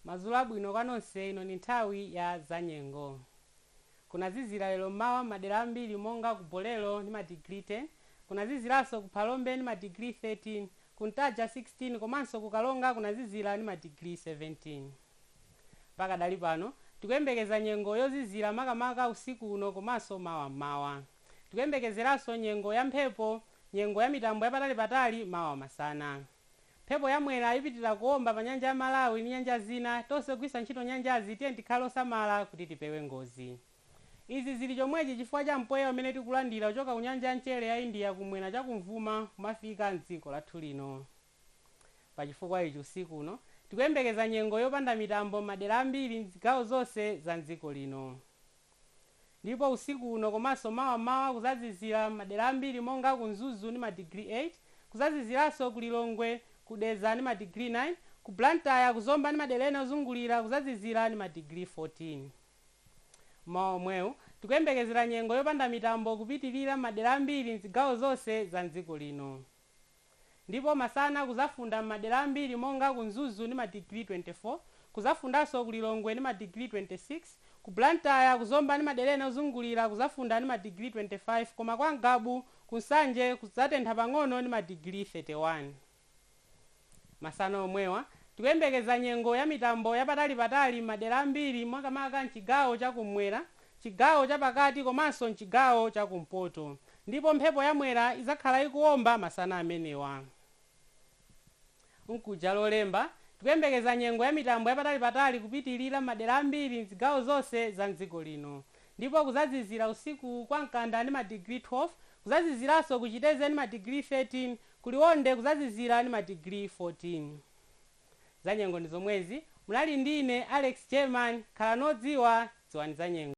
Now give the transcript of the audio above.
madzulo abwino kwa nonse ino ndi nthawi ya zanyengo kunazizira lero mmawa mmadera ambiri monga ku bolero ndi madigiri 10 kunaziziranso ku phalombe ndi madigiri 13 ku ntaja 16 komanso ku karonga kunazizira ndi madigiri 17 Pakadali pano, tikuyembekeza nyengo yozizira makamaka usiku uno komanso mawa m'mawa. Tikuyembekezeranso nyengo ya mphepo, nyengo ya mitambo yapatalipatali mawa masana. Mphepo ya Mwera ipitilira kuomba pa nyanja ya Malawi ndi nyanja zina, tonse ogwiritsa ntchito nyanjazi tiyeni tikhale osamala kuti tipewe ngozi. Izi zili chomwechi chifukwa cha mpweya umene tikulandira kuchoka ku nyanja ya mchere ya India kumwera chakumvuma kumafika m'dziko lathu lino. Pachifukwa ichi, usiku uno tikuyembekeza nyengo yopanda mitambo m'madera ambiri m'zigawo zonse za m'dziko lino. Ndipo usiku uno komanso mawa m'mawa kuzazizira m'madera ambiri monga ku Mzuzu ndi madigiri 8, kuzaziziranso ku Lilongwe, ku Dedza ndi madigiri 9, ku Blantyre, ku Zomba ndi madera ena ozungulira kuzazizira ndi madigiri 14. M'mawa omwewu tikuyembekezera nyengo yopanda mitambo kupitilira m'madera ambiri m'zigawo zonse za m'dziko lino. Ndipo masana kuzafunda m'madera ambiri monga ku Mzuzu ndi madigiri 24, kuzafundanso ku Lilongwe ndi madigiri 26, ku Blantyre, ku Zomba ndi madera ena ozungulira kuzafunda ndi madigiri 25 koma kwa Ngabu, ku Nsanje kuzatentha pang'ono ndi madigiri 31. Masana omwewa, tikuyembekeza nyengo ya mitambo yapatalipatali m'madera ambiri makamaka m'chigawo cha kummwera m'chigawo chapakati komanso m'chigawo chakumpoto ndipo mphepo ya Mwera idzakhala ikuwomba masana amenewa. Mkuja Lolemba, tikuyembekeza nyengo ya mitambo yapatalipatali kupitilira m'madera ambiri m'zigawo zonse za m'dziko lino ndipo kuzazizira usiku kwa Mkanda ndi madigiri 12, kuzaziziranso ku Chitedze ndi madigiri 13, ku Liwonde kuzazizira ndi madigiri 14. Zanyengo ndi zomwezi, munali ndi ine Alex German, khalani odziwa, dziwani zanyengo.